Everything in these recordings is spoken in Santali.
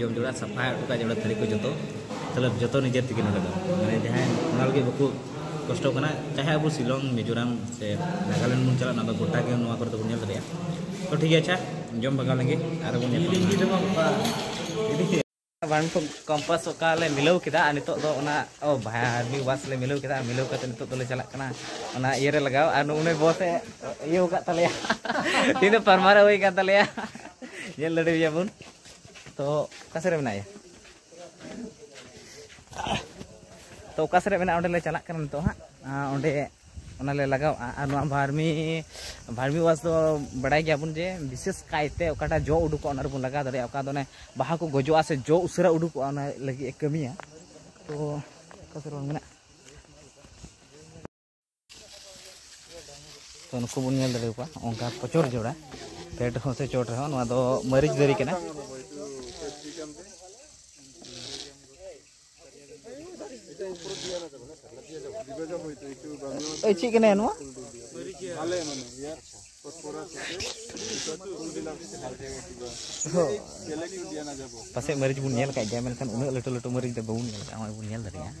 ᱡᱚᱢ ᱡᱚᱲᱟ ᱥᱟᱯᱷᱟ ᱦᱚᱴᱚ ᱠᱟᱜ ᱡᱚᱲᱟ ᱛᱷᱟᱹᱨᱤ ᱠᱚ ᱡᱚᱛᱚ ᱛᱟᱦᱚᱞᱮ ᱡᱚᱛᱚ ᱱᱤᱡᱮᱨ ᱛᱮᱜᱮ ᱱᱚᱰᱮ ᱫᱚ ᱢᱟᱱᱮ ᱡᱟᱦᱟᱸᱭ ᱚᱱᱟ ᱞᱟᱹᱜᱤᱫ ᱵᱟᱠᱚ ᱠᱚᱥᱴᱚ ᱠᱟᱱᱟ ᱪᱟᱦᱮ ᱟᱵᱚ ᱥᱤᱞᱚᱝ ᱢᱤᱡᱳᱨᱟᱢ ᱥᱮ ᱱᱟᱜᱟᱞᱮᱱᱰ ᱵᱚᱱ ᱪᱟᱞᱟᱜ ᱚᱱᱟ ᱫᱚ ᱜᱚᱴᱟ ᱜᱮ ᱱᱚᱣᱟ ᱠᱚᱨᱮ ᱫᱚᱵᱚᱱ ᱧᱮᱞ ᱫᱟᱲᱮᱭᱟᱜᱼᱟ ᱛᱚ ᱴᱷᱤᱠ ᱜᱮᱭᱟ ᱟᱪᱪᱷᱟ ᱡᱚᱢ ᱵᱷᱟᱜᱟᱣ ᱞᱮᱱᱜᱮ ᱟᱨ ᱵᱚᱱ ᱧᱮᱞ ᱵᱟᱱ ᱠᱚᱢᱯᱟᱥ ᱚᱠᱟ ᱞᱮ ᱢᱤᱞᱟᱹᱣ ᱠᱮᱫᱟ ᱟᱨ ᱱᱤᱛᱚᱜ ᱫᱚ ᱚᱱᱟ ᱚ ᱵᱷᱟᱭ ᱟᱨᱢᱤ ᱵᱟᱥ ᱞᱮ ᱢᱤᱞᱟᱹᱣ ᱠᱮᱫᱟ ᱢᱤᱞᱟᱹᱣ ᱠᱟᱛᱮ ᱱᱤᱛᱚᱜ ᱫᱚᱞᱮ ᱪᱟᱞᱟᱜ ᱠᱟᱱᱟ ᱚᱱᱟ ᱤᱭᱟᱹ ᱨᱮ ᱞᱟᱜᱟᱣ ᱟᱨ ᱩᱱᱤ ᱵᱚᱥ ᱮ ᱤᱭᱟᱹ ᱟᱠᱟᱫ ᱛᱟᱞᱮᱭᱟ ᱛᱤᱦᱤᱧ ᱫᱚ ᱯᱟᱨᱢᱟᱨᱟ ᱦᱩᱭ ᱟᱠᱟᱱ ᱛᱟᱞᱮᱭᱟ ᱧᱮᱞ ᱫᱟᱲᱮᱭᱟᱭᱟ ᱵᱚᱱ ᱛᱚ ᱚᱠᱟ ᱥᱮᱫ ᱨᱮ ᱢᱮᱱᱟᱭᱟ ᱛᱚ ᱚᱠᱟ ᱥᱮᱫ ᱨᱮ ᱢᱮᱱᱟᱜᱼᱟ ᱚᱸᱰᱮ ᱞᱮ ᱪᱟᱞᱟᱜ ᱠᱟᱱᱟ ᱱᱤᱛᱚᱜ ᱦᱟᱸᱜ ᱚᱸᱰᱮ ᱚᱱᱟ ᱞᱮ ᱞᱟᱜᱟᱣᱟ ᱟᱨ ᱱᱚᱣᱟ ᱵᱷᱟᱨᱢᱤ ᱵᱷᱟᱨᱢᱤ ᱣᱟᱥ ᱫᱚ ᱵᱟᱲᱟᱭ ᱜᱮᱭᱟ ᱵᱚᱱ ᱡᱮ ᱵᱤᱥᱮᱥ ᱠᱟᱭᱛᱮ ᱚᱠᱟᱴᱟᱜ ᱡᱚ ᱩᱰᱩᱠᱚᱜᱼᱟ ᱚᱱᱟ ᱨᱮᱵᱚᱱ ᱞᱟᱜᱟᱣ ᱫᱟᱲᱮᱭᱟᱜᱼᱟ ᱚᱠᱟ ᱫᱚ ᱚᱱᱮ ᱵᱟᱦᱟ ᱠᱚ ᱜᱚᱡᱚᱜᱼᱟ ᱥᱮ ᱡᱚ ᱩᱥᱟᱹᱨᱟ ᱩᱰᱩᱠᱚᱜᱼᱟ ᱚᱱᱟ ᱞᱟᱹᱜᱤᱫ ᱮ ᱠᱟᱹᱢᱤᱭᱟ ᱛᱚ ᱚᱠᱟ ᱥᱮᱫ ᱨᱚᱲ ᱢᱮᱱᱟᱜᱼᱟ ᱛᱚ ᱱᱩᱠᱩ ᱵᱚᱱ ᱧᱮᱞ ᱫᱟᱲᱮ ᱠᱚᱣᱟ ᱚᱱᱠᱟ ᱯᱚᱪᱚᱨ ᱡᱚᱲᱟ ᱯᱷᱮᱰ ᱨᱮᱦᱚᱸ ᱥᱮ ᱪᱚᱴ ᱨᱮᱦᱚᱸ ᱱᱚᱣᱟ ᱫᱚ ᱢᱟᱹᱨᱤᱪ ᱫᱟᱨᱮ ᱠᱟᱱᱟ ᱮᱭ ᱪᱮᱫ ᱠᱟᱱᱟ ᱱᱚᱣᱟ ᱯᱟᱥᱮᱡ ᱢᱟᱹᱨᱤᱪ ᱵᱚᱱ ᱧᱮᱞ ᱠᱟᱜ ᱜᱮᱭᱟ ᱢᱮᱱᱠᱷᱟᱱ ᱩᱱᱟᱹᱜ ᱞᱟᱹᱴᱩ ᱞᱟᱹᱴᱩ ᱢᱟᱹᱨᱤᱪ ᱫᱚ ᱵᱟᱵᱚᱱ ᱧᱮᱞ ᱠᱟᱜᱼᱟ ᱱᱚᱜᱼᱚᱭ ᱵᱚᱱ ᱧᱮᱞ ᱫᱟᱲᱮᱭᱟᱜᱼᱟ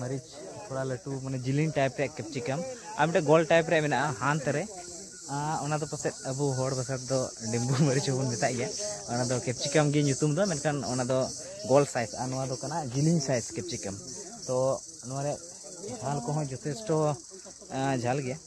ᱢᱟᱹᱨᱤᱪ ᱛᱷᱚᱲᱟ ᱞᱟᱹᱴᱩ ᱢᱟᱱᱮ ᱡᱤᱞᱤᱧ ᱴᱟᱭᱤᱯ ᱨᱮᱭᱟᱜ ᱠᱮᱯᱥᱤᱠᱟᱢ ᱟᱨ ᱢᱤᱫᱴᱮᱱ ᱜᱳᱞ ᱴᱟᱭᱤᱯ ᱨᱮᱭᱟᱜ ᱢᱮᱱᱟᱜᱼᱟ ᱦᱟᱱᱛ ᱨᱮ ᱚᱱᱟ ᱫᱚ ᱯᱟᱥᱮᱡ ᱟᱵᱚ ᱦᱚᱲ ᱵᱷᱟᱥᱟ ᱛᱮᱫᱚ ᱰᱤᱢᱵᱩ ᱢᱟᱹᱨᱤᱪ ᱦᱚᱸᱵᱚᱱ ᱢᱮᱛᱟᱜ ᱜᱮᱭᱟ ᱚᱱᱟ ᱫᱚ ᱠᱮᱯᱥᱤᱠᱟᱢ ᱜᱮ ᱧᱩᱛᱩᱢ ᱫᱚ ᱢᱮᱱᱠᱷᱟᱱ ᱚᱱᱟ ᱫᱚ ᱜᱳᱞ ᱥᱟᱭᱤᱡᱽ ᱟᱨ ᱱᱚᱣᱟ ᱫᱚ ᱠᱟᱱᱟ ᱡᱤᱞᱤᱧ ᱥᱟᱭᱤᱡᱽ ᱠᱮᱯᱥᱤᱠᱟᱢ ᱛᱚ ᱱᱚᱣᱟ ᱨᱮᱭᱟᱜ ᱡᱷᱟᱞ ᱠᱚᱦᱚᱸ ᱡᱚᱛᱷᱮᱥᱴᱚ ᱡᱷᱟᱞ ᱜᱮᱭᱟ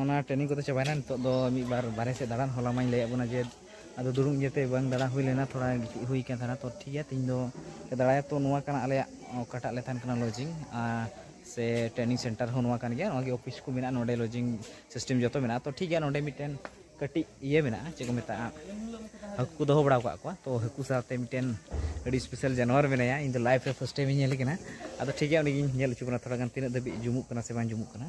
ᱚᱱᱟ ᱴᱨᱮᱱᱤᱝ ᱠᱚᱫᱚ ᱪᱟᱵᱟᱭᱮᱱᱟ ᱱᱤᱛᱚᱜ ᱫᱚ ᱢᱤᱫ ᱵᱟᱨ ᱵᱟᱨᱦᱮ ᱥᱮᱫ ᱫᱟᱬᱟᱱ ᱦᱚᱞᱟ ᱢᱟᱧ ᱞᱟᱹᱭᱟᱫ ᱵᱚᱱᱟ ᱡᱮ ᱟᱫᱚ ᱫᱩᱲᱩᱵ ᱤᱭᱟᱹᱛᱮ ᱵᱟᱝ ᱫᱟᱬᱟ ᱦᱩᱭ ᱞᱮᱱᱟ ᱛᱷᱚᱲᱟ ᱜᱤᱛᱤᱡ ᱦᱩᱭ ᱠᱟᱱ ᱛᱟᱦᱮᱱᱟ ᱛᱚ ᱴᱷᱤᱠ ᱜᱮᱭᱟ ᱛᱮᱦᱮᱧ ᱫᱚ ᱫᱟᱬᱟᱭᱟ ᱛᱚ ᱱᱚᱣᱟ ᱠᱟᱱᱟ ᱟᱞᱮᱭᱟᱜ ᱚᱠᱟᱴᱟᱜ ᱞᱮ ᱛᱟᱦᱮᱱ ᱠᱟᱱᱟ ᱞᱚᱡᱤᱝ ᱥᱮ ᱴᱨᱮᱱᱤᱝ ᱥᱮᱱᱴᱟᱨ ᱦᱚᱸ ᱱᱚᱣᱟ ᱠᱟᱱ ᱜᱮᱭᱟ ᱱᱚᱣᱟ ᱜᱮ ᱚᱯᱷᱤᱥ ᱠᱚ ᱢᱮᱱᱟᱜᱼᱟ ᱱᱚᱰᱮ ᱞᱚᱡᱤᱝ ᱥᱤᱥᱴᱮᱢ ᱡᱚᱛᱚ ᱢᱮᱱᱟᱜᱼᱟ ᱛᱚ ᱴᱷᱤᱠ ᱜᱮᱭᱟ ᱱᱚᱰᱮ ᱢᱤᱫᱴᱮᱱ ᱠᱟᱹᱴᱤᱡ ᱤᱭᱟᱹ ᱢᱮᱱᱟᱜᱼᱟ ᱪᱮᱫ ᱠᱚ ᱢᱮᱛᱟᱜᱼᱟ ᱦᱟᱹᱠᱩ ᱠᱚ ᱫᱚᱦᱚ ᱵᱟᱲᱟ ᱟᱠᱟᱫ ᱠᱚᱣᱟ ᱛᱚ ᱦᱟᱹᱠᱩ ᱥᱟᱶᱛᱮ ᱢᱤᱫᱴᱮᱱ ᱟᱹᱰᱤ ᱥᱯᱮᱥᱟᱞ ᱡᱟᱱᱣᱟᱨ ᱢᱮᱱᱟᱭᱟ ᱤᱧ ᱫᱚ ᱞᱟᱭᱤᱯᱷ ᱨᱮ ᱯᱷᱟᱥᱴ ᱴᱟᱭᱤᱢ ᱤᱧ ᱧᱮᱞᱮ ᱠᱟᱱᱟ ᱟᱫᱚ ᱴᱷᱤᱠ ᱜᱮᱭᱟ ᱩᱱᱤᱜᱤᱧ ᱧᱮᱞ ᱦᱚᱪᱚ ᱵᱚᱱᱟ ᱛᱷᱚᱲᱟ ᱜᱟᱱ ᱛᱤᱱᱟᱹᱜ ᱫᱷᱟᱹᱵᱤᱡ ᱡᱩᱢᱩᱜ ᱠᱟᱱᱟ ᱥᱮ ᱵᱟᱝ ᱡᱩᱢᱩᱜ ᱠᱟᱱᱟ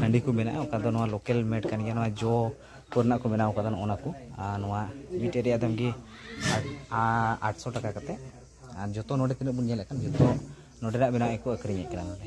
ᱦᱟᱺᱰᱤ ᱠᱚ ᱢᱮᱱᱟᱜᱼᱟ ᱚᱠᱟ ᱫᱚ ᱱᱚᱣᱟ ᱞᱳᱠᱮᱞ ᱢᱮᱰ ᱠᱟᱱ ᱜᱮᱭᱟ ᱱᱚᱣᱟ ᱡᱚ ᱠᱚᱨᱮᱱᱟᱜ ᱠᱚ ᱵᱮᱱᱟᱣ ᱠᱟᱫᱟ ᱱᱚᱜᱼᱚ ᱱᱟ ᱠᱚ ᱟᱨ ᱱᱚᱣᱟ ᱢᱤᱫᱴᱮᱡ ᱨᱮᱭᱟᱜ ᱫᱟᱢ ᱜᱮ ᱟᱴᱥᱚ ᱴᱟᱠᱟ ᱠᱟᱛᱮ ᱟᱨ ᱡᱚᱛᱚ ᱱᱚᱰᱮ ᱛᱤᱱᱟᱹᱜ ᱵᱚᱱ ᱧᱮᱞᱮᱫ ᱠᱟᱱ ᱡᱚᱛᱚ ᱱᱚᱰᱮᱱᱟᱜ ᱵᱮᱱᱟᱣ ᱜᱮᱠᱚ ᱟᱹᱠᱷᱨᱤᱧᱮᱫ ᱠᱟᱱᱟ ᱱᱚᱰᱮ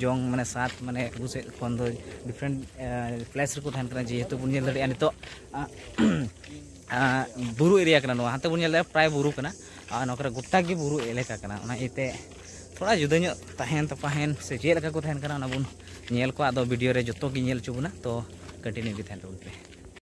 ᱡᱚᱝ ᱢᱟᱱᱮ ᱥᱟᱛ ᱢᱟᱱᱮ ᱟᱵᱚ ᱥᱮᱫ ᱠᱷᱚᱱ ᱫᱚ ᱰᱤᱯᱷᱟᱨᱮᱱᱴ ᱯᱞᱮᱥ ᱨᱮᱠᱚ ᱛᱟᱦᱮᱱ ᱠᱟᱱᱟ ᱡᱮᱦᱮᱛᱩ ᱵᱚᱱ ᱧᱮᱞ ᱫᱟᱲᱮᱭᱟᱜᱼᱟ ᱱᱤᱛᱚᱜ ᱵᱩᱨᱩ ᱮᱨᱤᱭᱟ ᱠᱟᱱᱟ ᱱᱚᱣᱟ ᱦᱟᱱᱛᱮ ᱵᱚᱱ ᱧᱮᱞ ᱫᱟᱲᱮᱭᱟᱜᱼᱟ ᱯᱨᱟᱭ ᱵᱩᱨᱩ ᱠᱟᱱᱟ ᱟᱨ ᱱᱚᱣᱟ ᱠᱚᱨᱮ ᱜᱚᱴᱟ ᱜᱮ ᱵᱩᱨᱩ ᱮᱞᱟᱠᱟ ᱠᱟᱱᱟ ᱚᱱᱟ ᱤᱭᱟᱹᱛᱮ ᱛᱷᱚᱲᱟ ᱡᱩᱫᱟᱹ ᱧᱚᱜ ᱛᱟᱦᱮᱱ ᱛᱟᱯᱟᱦᱮᱱ ᱥᱮ ᱪᱮᱫ ᱞᱮᱠᱟ ᱠᱚ ᱛᱟᱦᱮᱱ ᱠᱟᱱᱟ ᱚᱱᱟ ᱵᱚᱱ ᱧᱮᱞ ᱠᱚᱣᱟ ᱟᱫᱚ ᱵᱷᱤᱰᱤᱭᱳ ᱨᱮ ᱡᱚᱛᱚ ᱜᱮ ᱧᱮᱞ ᱦᱚᱪᱚ ᱵᱚᱱᱟ ᱛᱚ ᱠᱚᱱᱴᱤᱱᱤᱭᱩ ᱜᱮ ᱛᱟᱦᱮᱱ ᱛᱟᱵᱚᱱ ᱯᱮ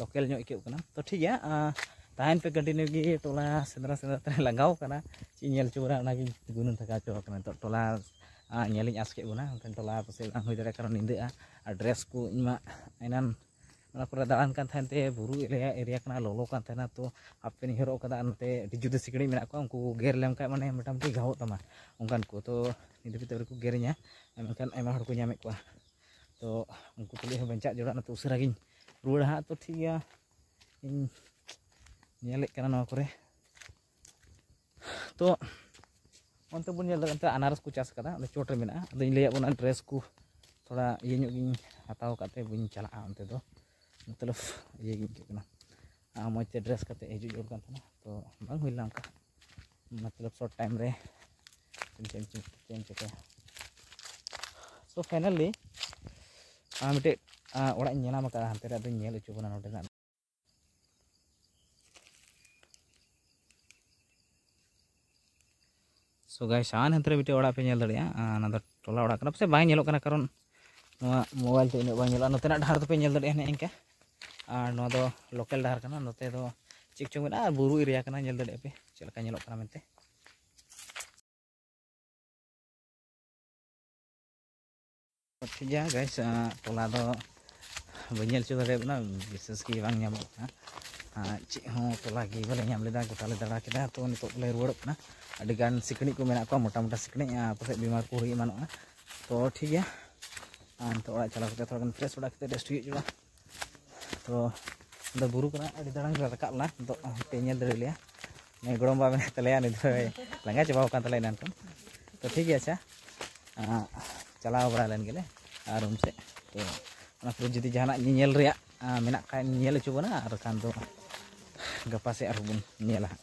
ᱞᱳᱠᱮᱞ ᱧᱚᱜ ᱟᱹᱭᱠᱟᱹᱜ ᱠᱟᱱᱟ ᱛᱚ ᱴᱷᱤᱠ ᱜᱮᱭᱟ ᱛᱟᱦᱮᱱ ᱯᱮ ᱠᱚᱱᱴᱤᱱᱤᱭᱩ ᱜᱮ ᱴᱚᱞᱟ ᱥᱮᱸᱫᱽᱨᱟ ᱥᱮᱸᱫᱽᱨᱟ ᱛᱮ ᱞᱟᱸᱜᱟᱣ ᱠᱟᱱᱟ ᱪᱮᱫ ᱤᱧ ᱧᱮᱞ ᱦᱚᱪᱚ ᱵᱚᱱᱟ ᱚᱱᱟᱜᱤᱧ ᱜᱩᱱᱟᱹᱱ ᱛᱷᱟᱠᱟᱣ ᱦᱚᱪᱚ ᱟᱠᱟᱱᱟ ᱱᱤᱛᱚᱜ ᱴᱚᱞᱟ ᱧᱮᱞᱤᱧ ᱟᱸᱥ ᱠᱮᱫ ᱵᱚᱱᱟ ᱢᱮᱱᱠᱷᱟᱱ ᱴᱚᱞᱟ ᱯᱟᱥᱮᱡ ᱵᱟᱝ ᱦᱩᱭ ᱫᱟᱲᱮᱭᱟᱜᱼᱟ ᱠᱟᱨᱚᱱ ᱧᱤᱫᱟᱹᱜᱼᱟ ᱟᱨ ᱰᱨᱮᱥ ᱠᱚ ᱤᱧ ᱢᱟ ᱮᱱᱟᱱ ᱚᱱᱟ ᱠᱚᱨᱮ ᱫᱟᱬᱟᱱ ᱠᱟᱱ ᱛᱟᱦᱮᱱ ᱛᱮ ᱵᱩᱨᱩ ᱮᱨᱤᱭᱟ ᱮᱨᱤᱭᱟ ᱠᱟᱱᱟ ᱞᱚᱞᱚ ᱠᱟᱱ ᱛᱟᱦᱮᱱᱟ ᱛᱚ ᱦᱟᱯ ᱯᱮᱱᱴ ᱤᱧ ᱦᱚᱨᱚᱜ ᱠᱟᱫᱟ ᱟᱨ ᱱᱚᱛᱮ ᱟᱹᱰᱤ ᱡᱩᱫᱟᱹ ᱥᱤᱠᱲᱤᱡ ᱢᱮᱱᱟᱜ ᱠᱚᱣᱟ ᱩᱱᱠᱩ ᱜᱮᱨ ᱞᱮᱢᱠᱷᱟᱱ ᱢᱟᱱᱮ ᱢᱳᱴᱟᱢᱩᱴᱤ ᱜᱷᱟᱣᱚᱜ ᱛᱟᱢᱟ ᱚᱱᱠᱟᱱ ᱠᱚ ᱛᱚ ᱧᱤᱫᱟᱹ ᱵᱮᱲᱟ ᱟᱹᱣᱨᱤ ᱠᱚ ᱜᱮᱨᱤᱧᱟ ᱢᱮᱱᱠᱷᱟᱱ ᱟᱭᱢᱟ ᱦᱚᱲ ᱠᱚ ᱧᱟᱢᱮᱫ ᱠᱚᱣᱟ ᱛᱚ ᱩᱱᱠᱩ ᱛᱩᱞᱩᱡ ᱦᱚᱸ ᱵᱟᱧᱪᱟᱜ ᱡᱚᱲᱟᱜ ᱱᱚᱛᱮ ᱩᱥᱟᱹᱨᱟ ᱜᱤᱧ ᱨᱩᱣᱟᱹᱲᱟ ᱦᱟᱸᱜ ᱛᱚ ᱴᱷᱤᱠ ᱜᱮᱭᱟ ᱤᱧ ᱧᱮᱞᱮᱫ ᱠᱟᱱᱟ ᱱᱚᱣᱟ ᱠᱚᱨᱮ ᱛᱚ ᱚᱱᱛᱮ ᱵᱚᱱ ᱧᱮᱞ ᱫᱟᱲᱮᱭᱟᱜ ᱠᱟᱱᱟ ᱟᱱᱟᱨᱚᱥ ᱠᱚ ᱪᱟᱥ ᱠᱟᱫᱟ ᱚᱸᱰᱮ ᱪᱚᱴ ᱨᱮ ᱢᱮᱱᱟᱜᱼᱟ ᱟᱫᱚᱧ ᱞᱟᱹᱭᱟᱫ ᱵᱚᱱᱟ ᱰᱨᱮᱥ ᱠᱚ ᱛᱷᱚᱲᱟ ᱤᱭᱟᱹ ᱧᱚᱜ ᱜᱤᱧ ᱦᱟᱛᱟᱣ ᱠᱟᱜ ᱛᱮ ᱵᱟᱹᱧ ᱪᱟᱞᱟᱜᱼᱟ ᱚᱱᱛᱮ ᱫᱚ ᱢᱚᱛᱞᱚᱵ ᱤᱭᱟᱹ ᱜᱮ ᱟᱹᱭᱠᱟᱹᱜ ᱠᱟᱱᱟ ᱢᱚᱡᱽ ᱛᱮ ᱰᱨᱮᱥ ᱠᱟᱛᱮ ᱦᱤᱡᱩᱜ ᱡᱟᱹᱨᱩᱲ ᱠᱟᱱ ᱛᱟᱦᱮᱱᱟ ᱛᱚ ᱵᱟᱝ ᱦᱩᱭ ᱞᱮᱱᱟ ᱚᱱᱠᱟ ᱢᱚᱛᱞᱚᱵ ᱥᱚᱨᱴ ᱴᱟᱭᱤᱢ ᱨᱮ ᱪᱮᱫ ᱮᱢ ᱪᱮᱫ ᱮᱢ ᱪᱤᱠᱟᱹᱭᱟ ᱥᱳ ᱯᱷᱟᱭᱱᱟᱞᱤ ᱢᱤᱫᱴᱮᱡ ᱚᱲᱟᱜ ᱤᱧ ᱧᱮᱞᱟᱢ ᱟᱠᱟᱫᱟ ᱦᱟᱱᱛᱮ ᱨᱮ ᱟᱫᱚᱧ ᱧᱮᱞ ᱦᱚᱪᱚ ᱵᱚᱱᱟ ᱱᱚᱰᱮᱱᱟᱜ ᱥᱚ ᱜᱟᱭ ᱥᱟᱱ ᱦᱟᱱᱛᱮ ᱨᱮ ᱢᱤᱫᱴᱮᱡ ᱚᱲᱟᱜ ᱯᱮ ᱧᱮᱞ ᱫᱟᱲᱮᱭᱟᱜᱼᱟ ᱚᱱᱟ ᱫᱚ ᱴᱚᱞᱟ ᱚᱲᱟᱜ ᱠᱟᱱᱟ ᱯᱟᱥᱮᱡ ᱵᱟᱝ ᱧᱮᱞᱚᱜ ᱠᱟᱱᱟ ᱠᱟᱨᱚᱱ ᱱᱚᱣᱟ ᱢᱳᱵᱟᱭᱤᱞ ᱛᱮ ᱩᱱᱟᱹᱜ ᱵᱟᱝ ᱧᱮᱞᱚᱜᱼᱟ ᱱᱚᱛᱮᱱᱟᱜ ᱰᱟᱦᱟᱨ ᱫᱚᱯᱮ ᱧᱮᱞ ᱫᱟᱲᱮᱭᱟᱜᱼᱟ ᱦᱟᱱᱮ ᱤᱱᱠᱟ ᱟᱨ ᱱᱚᱣᱟ ᱫᱚ ᱞᱳᱠᱟᱞ ᱰᱟᱦᱟᱨ ᱠᱟᱱᱟ ᱱᱚᱛᱮ ᱫᱚ ᱪᱮᱫ ᱪᱚᱝ ᱢᱮᱱᱟᱜᱼᱟ ᱵᱩᱨᱩ ᱮᱨᱤᱭᱟ ᱠᱟᱱᱟ ᱧᱮᱞ ᱫᱟᱲᱮᱭᱟᱜ ᱯᱮ ᱪᱮᱫ ᱞᱮᱠᱟ ᱧᱮᱞᱚᱜ ᱠᱟᱱᱟ ᱢᱮᱱᱛᱮ ᱴᱷᱤᱠ ᱜᱮᱭᱟ ᱜᱟᱭ ᱴᱚᱞᱟ ᱫᱚ ᱵᱟᱹᱧ ᱧᱮᱞ ᱦᱚᱪᱚ ᱫᱟᱲᱮᱭᱟᱜ ᱠᱟᱱᱟ ᱵᱤᱥᱮᱥ ᱜᱮ ᱵᱟᱝ ᱧᱟᱢᱚᱜ ᱠᱟᱱᱟ ᱪᱮᱫ ᱦᱚᱸ ᱴᱚᱞᱟ ᱜᱮ ᱵᱟᱞᱮ ᱧᱟᱢ ᱞᱮᱫᱟ ᱜᱚᱴᱟᱞᱮ ᱫᱟᱬᱟ ᱠᱮᱫᱟ ᱛᱚ ᱱᱤᱛᱚᱜ ᱞᱮ ᱨᱩᱣᱟᱹᱲᱚᱜ ᱠᱟᱱᱟ ᱟᱹᱰᱤᱜᱟᱱ ᱥᱤᱠᱲᱤᱡ ᱠᱚ ᱢᱮᱱᱟᱜ ᱠᱚᱣᱟ ᱢᱚᱴᱟ ᱢᱚᱴᱟ ᱥᱤᱠᱲᱤᱡ ᱯᱟᱥᱮᱡ ᱵᱤᱢᱟᱨ ᱠᱚ ᱦᱩᱭ ᱮᱢᱟᱱᱚᱜᱼᱟ ᱛᱚ ᱴᱷᱤᱠ ᱜᱮᱭᱟ ᱱᱤᱛᱚᱜ ᱚᱲᱟᱜ ᱪᱟᱞᱟᱣ ᱠᱟᱛᱮ ᱛᱷᱚᱲᱟ ᱜᱟᱱ ᱯᱷᱨᱮᱥ ᱵᱟᱲᱟ ᱠᱟᱛᱮ ᱨᱮᱥᱴ ᱦᱩᱭᱩᱜᱼᱟ ᱛᱚ ᱟᱫᱚ ᱵᱩᱨᱩ ᱠᱷᱚᱱᱟᱜ ᱟᱹᱰᱤ ᱫᱟᱬᱟᱱ ᱞᱮ ᱨᱟᱠᱟᱵ ᱮᱱᱟ ᱟᱫᱚ ᱯᱮ ᱧᱮᱞ ᱫᱟᱲᱮ ᱞᱮᱭᱟ ᱱᱩᱭ ᱜᱚᱲᱚᱢ ᱵᱟ ᱢᱮᱱᱟᱭ ᱛᱟᱞᱮᱭᱟ ᱱᱩᱭ ᱫᱚᱭ ᱞᱟᱸᱜᱟ ᱪᱟᱵᱟᱣ ᱟᱠᱟᱱ ᱛᱟᱞᱮᱭᱟ ᱮᱱᱟᱱ ᱠᱷᱚᱱ ᱛᱚ ᱴᱷᱤᱠ ᱜᱮᱭᱟ ᱟᱪᱪᱷᱟ ᱪᱟᱞᱟᱣ ᱵᱟᱲᱟ ᱞᱮᱱ ᱜᱮᱞᱮ ᱟᱨ ᱨᱩᱢ ᱥᱮᱫ ᱛᱚ ᱚᱱᱟ ᱯᱚᱨᱮ ᱡᱩᱫᱤ ᱡᱟᱦᱟᱱᱟᱜ ᱧᱮᱧᱮᱞ ᱨᱮᱭᱟᱜ ᱢᱮᱱᱟᱜ ᱠᱷᱟᱱ ᱧᱮᱞ ᱦᱚᱪᱚ ᱵᱚᱱᱟ ᱟᱨ ᱵᱟᱠᱷᱟᱱ ᱫᱚ ᱜᱟᱯᱟ ᱥᱮᱫ ᱟᱨᱦᱚᱸ ᱵᱚᱱ ᱧᱮᱞᱟ ᱦᱟᱸᱜ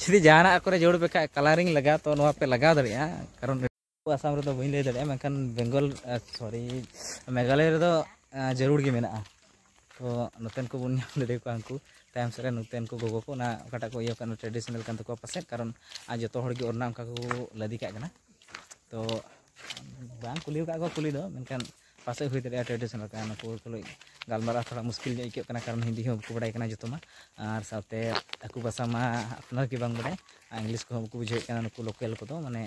ᱡᱩᱫᱤ ᱡᱟᱦᱟᱱᱟᱜ ᱠᱚᱨᱮ ᱡᱳᱲ ᱯᱮ ᱠᱷᱟᱡ ᱠᱟᱞᱟᱨᱤᱝ ᱞᱟᱜᱟᱣ ᱛᱚ ᱱᱚᱣᱟ ᱯᱮ ᱞᱟᱜᱟᱣ ᱫᱟᱲᱮᱭᱟᱜᱼᱟ ᱠᱟᱨᱚᱱ ᱟᱥᱟᱢ ᱨᱮᱫᱚ ᱵᱟᱹᱧ ᱞᱟᱹᱭ ᱫᱟᱲᱮᱭᱟᱜᱼᱟ ᱢᱮᱱᱠᱷᱟᱱ ᱵᱮᱝᱜᱚᱞ ᱥᱚᱨᱤ ᱢᱮᱜᱷᱟᱞᱚᱭ ᱨᱮᱫᱚ ᱡᱟᱹᱨᱩᱲ ᱜᱮ ᱢᱮᱱᱟᱜᱼᱟ ᱛᱚ ᱱᱚᱛᱮᱱ ᱠᱚ ᱵᱚᱱ ᱧᱟᱢ ᱫᱟᱲᱮ ᱠᱚᱣᱟ ᱩᱱᱠᱩ ᱛᱟᱭᱚᱢ ᱥᱮᱫ ᱨᱮ ᱱᱚᱛᱮᱱ ᱠᱚ ᱜᱚᱜᱚ ᱠᱚ ᱚᱱᱟ ᱚᱠᱟᱴᱟᱜ ᱠᱚ ᱤᱭᱟᱹ ᱠᱟᱱᱟ ᱴᱨᱮᱰᱤᱥᱚᱱᱟᱞ ᱠᱟᱱ ᱛᱟᱠᱚᱣᱟ ᱯᱟᱥᱮᱡ ᱠᱟᱨᱚᱱ ᱟᱨ ᱡᱚᱛᱚ ᱦᱚᱲ ᱜᱮ ᱚᱱᱟ ᱚᱱᱠᱟ ᱠᱚ ᱞᱟᱫᱮ ᱠᱟᱜ ᱠᱟᱱᱟ ᱛᱚ ᱵᱟᱝ ᱠᱩᱞᱤ ᱟᱠᱟᱫ ᱠᱚᱣᱟ ᱠᱩᱞᱤ ᱫᱚ ᱢᱮᱱᱠᱷᱟᱱ ᱯᱟᱥᱮᱡ ᱦᱩᱭ ᱫᱟᱲᱮᱭᱟᱜᱼᱟ ᱴᱨᱮᱰᱤᱥᱚᱱᱟᱞ ᱠᱟᱱᱟ ᱱᱩᱠᱩ ᱛᱩᱞᱩᱡ ᱜᱟᱞᱢᱟᱨᱟᱣ ᱛᱷᱚᱲᱟ ᱢᱩᱥᱠᱤᱞ ᱧᱚᱜ ᱟᱹᱭᱠᱟᱹᱜ ᱠᱟᱱᱟ ᱠᱟᱨᱚᱱ ᱦᱤᱱᱫᱤ ᱦᱚᱸ ᱵᱟᱠᱚ ᱵᱟᱲᱟᱭ ᱠᱟᱱᱟ ᱡᱚᱛᱚ ᱢᱟ ᱟᱨ ᱥᱟᱶᱛᱮ ᱟᱠᱚ ᱵᱷᱟᱥᱟ ᱢᱟ ᱟᱯᱱᱟᱨ ᱜᱮ ᱵᱟᱝ ᱵᱟᱲᱟᱭ ᱟᱨ ᱤᱝᱞᱤᱥ ᱠᱚᱦᱚᱸ ᱵᱟᱠᱚ ᱵᱩᱡᱷᱟᱹᱣᱮᱫ ᱠᱟᱱᱟ ᱱᱩᱠᱩ ᱞᱳᱠᱮᱞ ᱠᱚᱫᱚ ᱢᱟᱱᱮ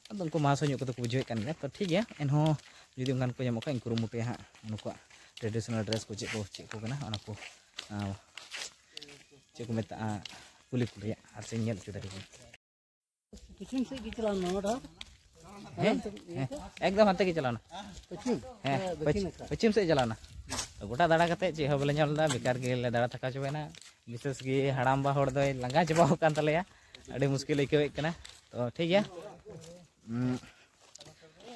ᱟᱫᱚ ᱩᱱᱠᱩ ᱢᱟᱦᱟᱥᱚᱭ ᱧᱚᱜ ᱠᱚᱫᱚ ᱠᱚ ᱵᱩᱡᱷᱟᱹᱣᱮᱫ ᱠᱟᱱ ᱜᱮᱭᱟ ᱛᱚ ᱴᱷᱤᱠ ᱜᱮᱭᱟ ᱮᱱᱦᱚᱸ ᱡᱩᱫᱤ ᱚᱱᱠᱟᱱ ᱠᱚ ᱧᱟᱢᱚᱜ ᱠᱷᱟᱡ ᱤᱧ ᱠᱩᱨᱩᱢᱩᱴᱩᱭᱟ ᱦᱟᱸᱜ ᱱᱩᱠᱩᱣᱟᱜ ᱴᱨᱮᱰᱤᱥᱚᱱᱟᱞ ᱰᱨᱮᱥ ᱠᱚ ᱪᱮᱫ ᱠᱚ ᱪᱮᱫ ᱠᱚ ᱠᱟᱱᱟ ᱚᱱᱟ ᱠᱚ ᱪᱮᱫ ᱠᱚ ᱢᱮᱛᱟᱜᱼᱟ ᱠᱩᱞᱤ ᱠᱚ ᱨᱮᱭᱟᱜ ᱟᱨ ᱥᱮᱧ ᱧᱮᱞ ᱦᱚᱪᱚ ᱫᱟᱲᱮᱭᱟᱠᱚᱣᱟ ᱦᱮᱸ ᱦᱮᱸ ᱮᱠᱫᱚᱢ ᱦᱟᱱᱛᱮ ᱜᱮ ᱪᱟᱞᱟᱣᱱᱟ ᱦᱮᱸ ᱯᱚᱪᱷᱤᱢ ᱥᱮᱫ ᱪᱟᱞᱟᱣᱱᱟ ᱜᱚᱴᱟ ᱫᱟᱬᱟ ᱠᱟᱛᱮ ᱪᱮᱫ ᱦᱚᱸ ᱵᱟᱞᱮ ᱧᱟᱢ ᱞᱮᱫᱟ ᱵᱮᱠᱟᱨ ᱜᱮᱞᱮ ᱫᱟᱬᱟ ᱛᱷᱟᱠᱟ ᱪᱟᱵᱟᱭᱮᱱᱟ ᱵᱤᱥᱮᱥ ᱜᱮ ᱦᱟᱲᱟᱢᱵᱟ ᱦᱚᱲ ᱫᱚᱭ ᱞᱟᱸᱜᱟ ᱪᱟᱵᱟᱣ ᱟᱠᱟᱱ ᱛᱟᱞᱮᱭᱟ ᱟᱹᱰᱤ ᱢᱩᱥᱠᱤᱞ ᱟᱹᱭᱠᱟᱹᱣᱮᱫ ᱠᱟᱱᱟ ᱛᱚ ᱴᱷᱤᱠ ᱜᱮᱭᱟ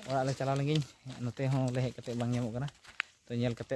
ᱚᱲᱟᱜ ᱞᱮ ᱪᱟᱞᱟᱣ ᱞᱮᱱᱜᱤᱧ ᱱᱚᱛᱮ ᱦᱚᱸ ᱞᱮ ᱦᱮᱡ ᱠᱟᱛᱮ ᱵᱟᱝ ᱧᱟᱢᱚᱜ ᱠᱟᱱᱟ ᱛᱚ ᱧᱮᱞ ᱠᱟᱛᱮ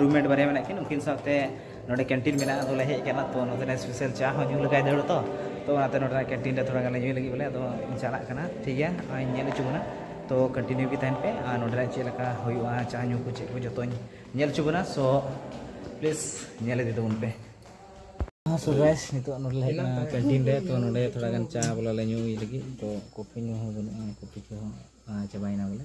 ᱨᱩᱢᱢᱮᱴ ᱵᱟᱨᱭᱟ ᱢᱮᱱᱟᱜ ᱠᱤᱱ ᱩᱱᱠᱤᱱ ᱥᱟᱶᱛᱮ ᱱᱚᱰᱮ ᱠᱮᱱᱴᱤᱱ ᱢᱮᱱᱟᱜᱼᱟ ᱟᱫᱚᱞᱮ ᱦᱮᱡ ᱟᱠᱟᱱᱟ ᱛᱚ ᱱᱚᱛᱮᱨᱮ ᱥᱯᱮᱥᱟᱞ ᱪᱟ ᱦᱚᱸ ᱧᱩ ᱞᱮᱜᱟᱭ ᱫᱟᱹᱲ ᱛᱚ ᱛᱚ ᱚᱱᱟᱛᱮ ᱱᱚᱰᱮᱱᱟᱜ ᱠᱮᱱᱴᱤᱱ ᱨᱮ ᱛᱷᱚᱲᱟ ᱜᱟᱱ ᱞᱮ ᱧᱩᱭ ᱞᱟᱹᱜᱤᱫ ᱵᱚᱞᱮ ᱟᱫᱚ ᱪᱟᱞᱟᱜ ᱠᱟᱱᱟ ᱴᱷᱤᱠ ᱜᱮᱭᱟ ᱱᱚᱜᱼᱚᱭ ᱤᱧ ᱧᱮᱞ ᱦᱚᱪᱚ ᱵᱚᱱᱟ ᱛᱚ ᱠᱚᱱᱴᱤᱱᱤᱭᱩ ᱜᱮ ᱛᱟᱦᱮᱱ ᱯᱮ ᱟᱨ ᱱᱚᱰᱮᱱᱟᱜ ᱪᱮᱫ ᱞᱮᱠᱟ ᱦᱩᱭᱩᱜᱼᱟ ᱪᱟ ᱧᱩ ᱠᱚ ᱪᱮᱫ ᱠᱚ ᱡᱚᱛᱚᱧ ᱧᱮᱞ ᱦᱚᱪᱚ ᱵᱚᱱᱟ ᱥᱚ ᱯᱞᱤᱡᱽ ᱧᱮᱞ ᱤᱫᱤ ᱛᱟᱵᱚᱱ ᱯᱮ ᱥᱚ ᱜᱟᱭᱥ ᱱᱤᱛᱚᱜ ᱱᱚᱰᱮ ᱞᱮ ᱦᱮᱡ ᱟᱠᱟᱱᱟ ᱠᱮᱱᱴᱤᱱ ᱨᱮ ᱛᱚ ᱱᱚᱰᱮ ᱛᱷᱚᱲᱟ ᱜᱟᱱ ᱪᱟ ᱵᱚᱞᱮ ᱞᱮ ᱧᱩᱭ ᱞᱟᱹᱜᱤᱫ ᱛᱚ ᱠᱚᱯᱷᱤ ᱧᱩ ᱦᱚᱸ ᱵᱟᱹᱱᱩᱜᱼᱟ ᱠᱚᱯᱷᱤ ᱠᱚᱦᱚᱸ ᱪᱟᱵᱟᱭᱮᱱᱟ ᱵᱚᱞᱮ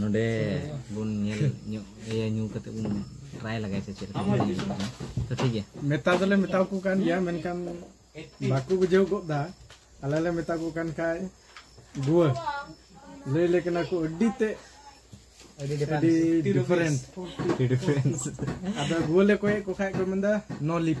ᱱᱚᱰᱮ ᱵᱚᱱ ᱧᱮᱞ ᱧᱚᱜ ᱤᱭᱟᱹ ᱧᱩ ᱠᱟᱛᱮ ᱵᱚᱱ ᱴᱨᱟᱭ ᱞᱟᱜᱟᱭ ᱥᱮ ᱪᱮᱫ ᱛᱚ ᱴᱷᱤᱠ ᱜᱮᱭᱟ ᱢᱮᱛᱟ ᱫᱚᱞᱮ ᱢᱮᱛᱟ ᱠᱚ ᱠᱟᱱ ᱜᱮᱭᱟ ᱢᱮᱱᱠᱷᱟᱱ ᱵᱟᱠᱚ ᱵᱩᱡᱷᱟᱹᱣ ᱜᱚᱫ ᱫᱟ ᱟᱞᱮ ᱞᱮ ᱢᱮᱛᱟ ᱠᱚ ᱠᱟᱱ ᱠᱷᱟᱡ ᱜᱩᱣᱟᱹ ᱞᱟᱹᱭ ᱞᱮ ᱠᱟᱱᱟ ᱠᱚ ᱟᱹᱰᱤ ᱛᱮ ᱟᱹᱰᱤ ᱰᱤᱯᱷᱟᱨᱮᱱᱴ ᱟᱫᱚ ᱜᱩᱣᱟᱹ ᱞᱮ ᱠᱚᱭᱮᱫ ᱠᱚ ᱠᱷᱟᱡ ᱠᱚ ᱢᱮᱱᱫᱟ ᱱᱚ ᱞᱤᱯ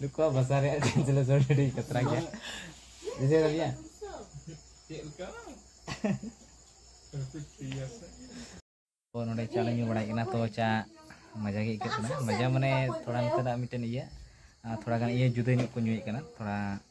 ᱱᱩᱠᱩᱣᱟᱜ ᱵᱷᱟᱥᱟ ᱨᱮᱭᱟᱜ ᱴᱨᱟᱱᱥᱞᱮᱥᱚᱱ ᱟᱹᱰᱤ ᱠᱟᱛᱨᱟ ᱜᱮᱭᱟ ᱵᱩᱡᱷᱟᱹᱣ ᱫᱟᱲᱮᱭᱟᱜ ᱪᱮᱫ ᱞᱮᱠᱟ ᱱᱚᱰᱮ ᱪᱟ ᱞᱮ ᱧᱩ ᱵᱟᱲᱟᱭ ᱠᱟᱱᱟ ᱛᱚ ᱪᱟ ᱢᱟᱡᱟ ᱜᱮ ᱟᱹᱭᱠᱟᱹᱜ ᱠᱟᱱᱟ ᱢᱟᱡᱟ ᱢᱟᱱᱮ ᱛᱷᱚᱲᱟ ᱱᱚᱛᱮᱱᱟᱜ ᱢᱤᱫᱴᱮᱱ ᱤᱭᱟᱹ ᱛᱷᱚᱲᱟ ᱜᱟᱱ ᱤᱭᱟᱹ ᱡᱩᱫᱟᱹ ᱧᱚᱜ ᱠᱚ ᱧᱩᱭᱮᱫ ᱠᱟᱱᱟ ᱛᱷᱚᱲᱟ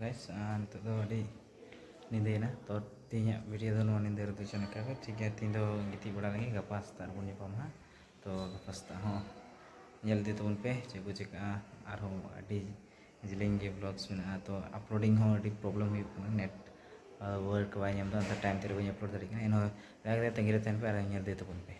ᱜᱟᱭᱥ ᱱᱤᱛᱚᱜ ᱫᱚ ᱟᱹᱰᱤ ᱧᱤᱫᱟᱹᱭᱮᱱᱟ ᱛᱚ ᱛᱮᱦᱮᱧᱟᱜ ᱵᱷᱤᱰᱤᱭᱳ ᱫᱚ ᱱᱚᱣᱟ ᱧᱤᱫᱟᱹ ᱨᱮᱫᱚ ᱪᱮᱫ ᱞᱮᱠᱟ ᱜᱮ ᱴᱷᱤᱠ ᱜᱮᱭᱟ ᱛᱮᱦᱮᱧ ᱫᱚ ᱜᱤᱛᱤᱡ ᱵᱟᱲᱟ ᱞᱮᱱᱜᱮ ᱜᱟᱯᱟ ᱥᱮᱛᱟᱜ ᱨᱮᱵᱚᱱ ᱧᱟᱯᱟᱢᱟ ᱦᱟᱸᱜ ᱛᱚ ᱜᱟᱯᱟ ᱥᱮᱛᱟᱜ ᱦᱚᱸ ᱧᱮᱞ ᱤᱫᱤ ᱛᱟᱵᱚᱱ ᱯᱮ ᱪᱮᱫ ᱠᱚ ᱪᱤᱠᱟᱹᱜᱼᱟ ᱟᱨᱦᱚᱸ ᱟᱹᱰᱤ ᱡᱮᱞᱮᱧ ᱜᱮ ᱵᱞᱚᱜᱽᱥ ᱢᱮᱱᱟᱜᱼᱟ ᱛᱚ ᱟᱯᱞᱳᱰᱤᱝ ᱦᱚᱸ ᱟᱹᱰᱤ ᱯᱨᱚᱵᱞᱮᱢ ᱦᱩᱭᱩᱜ ᱠᱟᱱᱟ ᱱᱮᱴ ᱣᱟᱨᱠ ᱵᱟᱭ ᱧᱟᱢᱫᱟ ᱚᱱᱟᱛᱮ ᱴᱟᱭᱤᱢ ᱛᱮ ᱵᱟᱹᱧ ᱟᱯᱞᱳᱰ ᱫᱟᱲᱮᱭᱟᱜ ᱠᱟᱱᱟ ᱮᱱᱦᱚᱸ ᱫᱟᱭᱟ ᱠᱟᱛᱮᱫ ᱛᱟᱺᱜᱤ ᱨᱮ ᱛᱟᱦᱮᱱ ᱯᱮ ᱟᱨ ᱧᱮᱞ ᱤᱫᱤ ᱛᱟᱵᱚᱱ ᱯᱮ